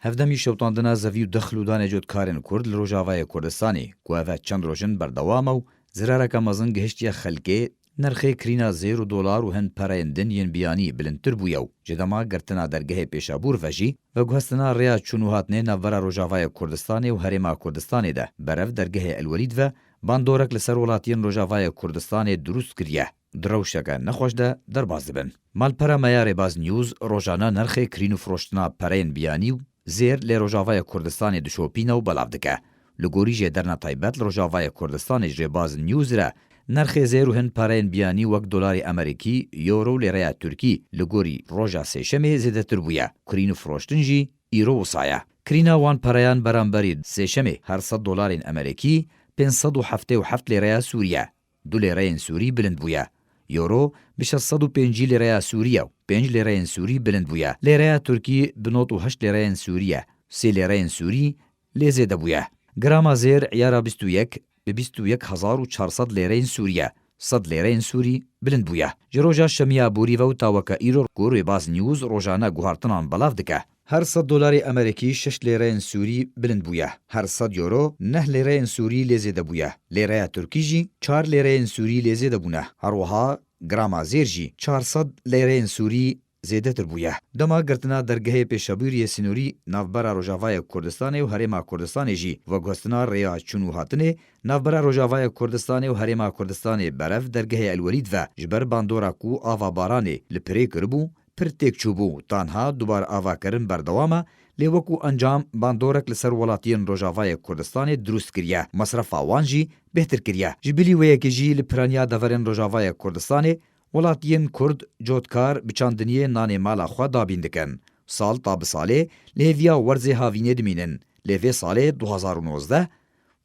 Hevdemî şewitandina zevî û dixil û danê cotkarên Kurd li Rojavayê Kurdistanê ku ev e çend roj in berdewam e û zirareke mezin gihiştiye xelkê, nirxê kirîna zêr û dolar û hin pereyên din yên biyanî bilindtir bûye û ji dema girtina dergehê Pêşabûr ve jî veguhestina rêya çûn û hatnê navbera Rojavayê Kurdistanê û Herêma Kurdistanê de berev dergehê El Welîd ve bandorek li ser welatiyên Rojavayê Kurdistanê dirûst kiriye. Di rewşeke nexweş de derbas dibin. Malpera me ya Rêbaz News rojane nirxê kirîn û firoştina pereyên biyanî û zêr lê Rojavayê Kurdistanê dişopîne û belav dike. Li gorî jê derna taybet li Rojavayê Kurdistanê ji Rêbaz News re nirxê zêr û hin pereyên biyanî wek dolarê Emerîkî, Euro û lêreya Tirkî li gorî roja sêşemê zêdetir bûye. Kirîn û firoştin jî îro wisa ye. Kirîna wan pereyan beramberî sêşemê her sed dolarên Emerîkî pênc sed û heftê û heft lêreya Sûrî ye. Du lîreyên sûrî bilind bûye. Euro bi şeş sed û pêncî lîreya sûrî ye û pênc lîreyên sûrî bilind bûye. Lîreya tirkî bi nod û heşt lîreyên sûrî ye. Sê lîreyên sûrî lê zêde bûye. Grama zêr îyara bîst û yek bi bîst û yek hezar û çar sed lîreyên sûrî ye. Sed lîreyên sûrî bilind bûye. Ji roja şemiya borî ve û ta weke îro ku Rêbaz News rojane guhartinan belav dike. Her sed dolarê Emerîkî şeş lêreyên Sûrî bilind bûye, her sed Euro neh lêreyên Sûrî lê zêde bûye, lêreya Tirkî jî çar lêreyên Sûrî lê zêde bûne, herwiha grama zêr jî çar sed lêreyên Sûrî zêdetir bûye. Dema girtina dergehê pêşabûriyê sînorî navbera Rojavayê Kurdistanê û Herêma Kurdistanê jî veguhestina rêya çûn û hatinê navbera Rojavayê Kurdistanê û Herêma Kurdistanê berev dergehê El Welîd ve ji ber bandora ku ava baranê li pirê kiribû Pir têk çûbû, tanha dubaravakirin berdewam e, lê wekû encam bandorek li ser welatiyên Rojavayê Kurdistanê drûst kiriye, mesrefa wan jî bêhtir kiriye. Ji bilî wê yekê jî li piraniya deverên Rojavayê Kurdistanê, welatiyên Kurd cotkar bi çandiniyê nanê mala xwe dabîn dikin. Sal ta bi salê li hêviya werzê havînê dimînin, lê vê salê du hezar û nozdeh,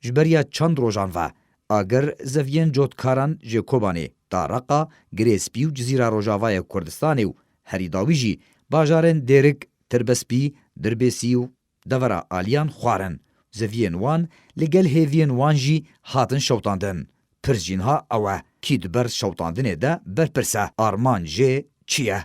Ji ber ya çend rojan ve agir zeviyên cotkaran jê Kobanê da Reqa, Girê Spî û Cizîra Rojavayê Kurdistanê û herî dawî jî bajarên Dêrik, Tirbespî, Dirbêsî û devera aliyan xwarin. Zeviyên wan li gel hêviyên wan jî hatin şewtandin. Pirs jî niha ew e, kî di ber şewtandinê de berpirse, armanc jê çi ye?